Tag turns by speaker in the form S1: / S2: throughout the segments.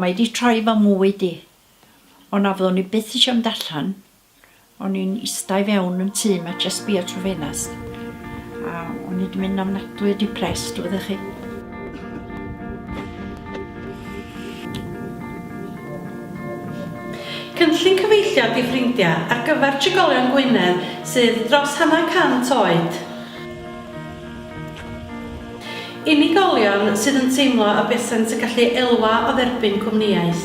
S1: Mae 'di troi fy mywyd i. O na fyddwn i byth isio mynd allan, o'n i'n ista i fewn yn tŷ 'ma jyst sbïo trwy ffenast a o'n i 'di mynd ofnadwy o depressed wyddoch chi. Cynllun cyfeillion i ffrindiau ar gyfer trigolion Gwynedd sydd dros hanner cant oed. Unigolion sydd yn teimlo y busent yn gallu elwa o dderbyn cwmnïaeth.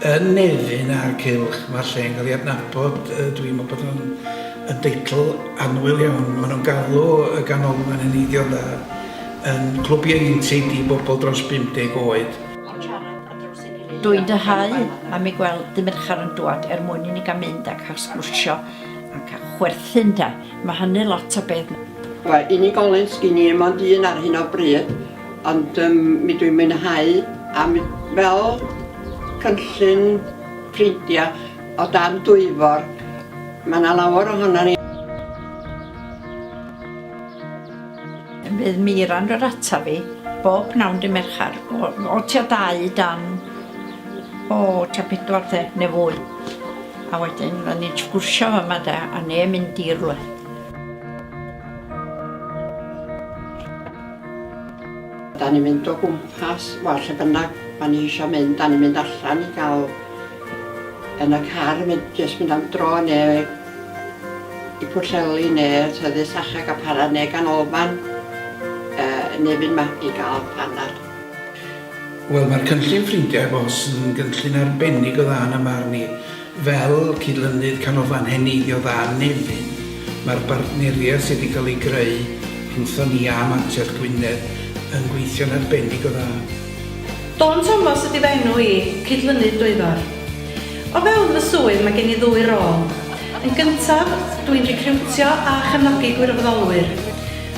S1: Yn Nefyn a'r Cylch, mae'r lle yn cael ei adnabod, dwi'n meddwl bod o'n yn deitl annwyl iawn. Maen nhw'n galw y Ganolfan yn eiddion dda, yn clwb ieuenctid i bobl dros 50 oed. Dwi'n dyhau am ei gweld dy merchar yn dwad er mwyn i ni gael mynd a cael sgwrsio a cael chwerthin ynde? Mae hynny lot o beth. Mae unigolyn sgin i 'im ond un ar hyn o bryd Ond yym mi dwi'n mwynhau a mi... fel cynllun ffrindia o dan Dwyfor ma' 'na lawer ohonan ni. Mi fydd Mira'n rhoi'r atab fi bob pnawn dy Merchar o o tua dau i dan o tua pedwar de ne fwy a wedyn fydda ni'n sgwrsio fama de a ne mynd i rwle. Da ni'n mynd o gwmpas, wel lle bynnag ma' ni isio mynd, da ni'n mynd allan i gael yn y car yn mynd jyst mynd am dro neu i Pwllheli neu Tyddau Sachag a Para neu Ganolfan yy neu fynd ma- i gael panad. Wel mae'r cynllun Ffrindiau Bos yn gynllun arbennig o dda yn 'y marn i. Fel cydlynydd Canolfan Heneiddio Dda Nefyn, mae'r bartneriaeth sydd wedi cael ei greu rhwngthon ni a Mantell Gwynedd yn gweithio'n arbennig o dda. Dawn Thomas ydy fy enw i, Cydlynydd Dwyfor. O fewn fy swydd mae gen i ddwy rôl. Yn gyntaf, dw i'n recriwtio a chefnogi gwirfoddolwyr,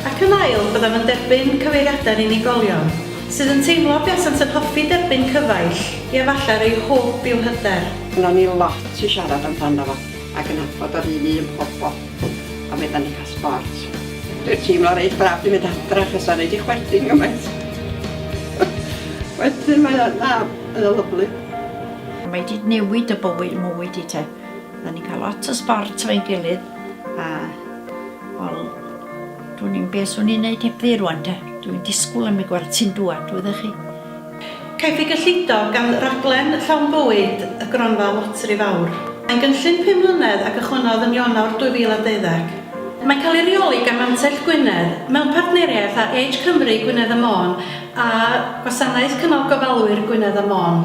S1: ac yn ail, byddaf yn derbyn cyfeiriadau'r unigolion. Sydd yn teimlo buasant yn hoffi derbyn cyfaill, ia falle'r eu hwb yw hyder. Gynnon ni lot i siarad amdano fo a gynadbod yr un un pobol a fedran ni cael sbort. Dwi'n teimlo reit braf di mynd adra achos o'n i di chwerthin gymaint. Wedyn mae o, na, mae o lyfli. Mae di newid y bywyd mwy di te. Odda ni'n cael lot o sbort efo'n gilydd a wel Dwn i'm be' swn i'n neud heb ddu rwan de. Dw i'n disgwl am y gwartyn dŵad, wyddoch chi. Caiff ei gyllido gan raglen llawn bywyd y Gronfa Loteri Fawr. Mae'n gynllun pum mlynedd a gychwynnodd yn Ionawr 2012. Mae'n cael ei reoli gan Mantell Gwynedd mewn partneriaeth â Age Cymru Gwynedd a Môn a Gwasanaeth Cynnal Gofalwyr Gwynedd a Môn.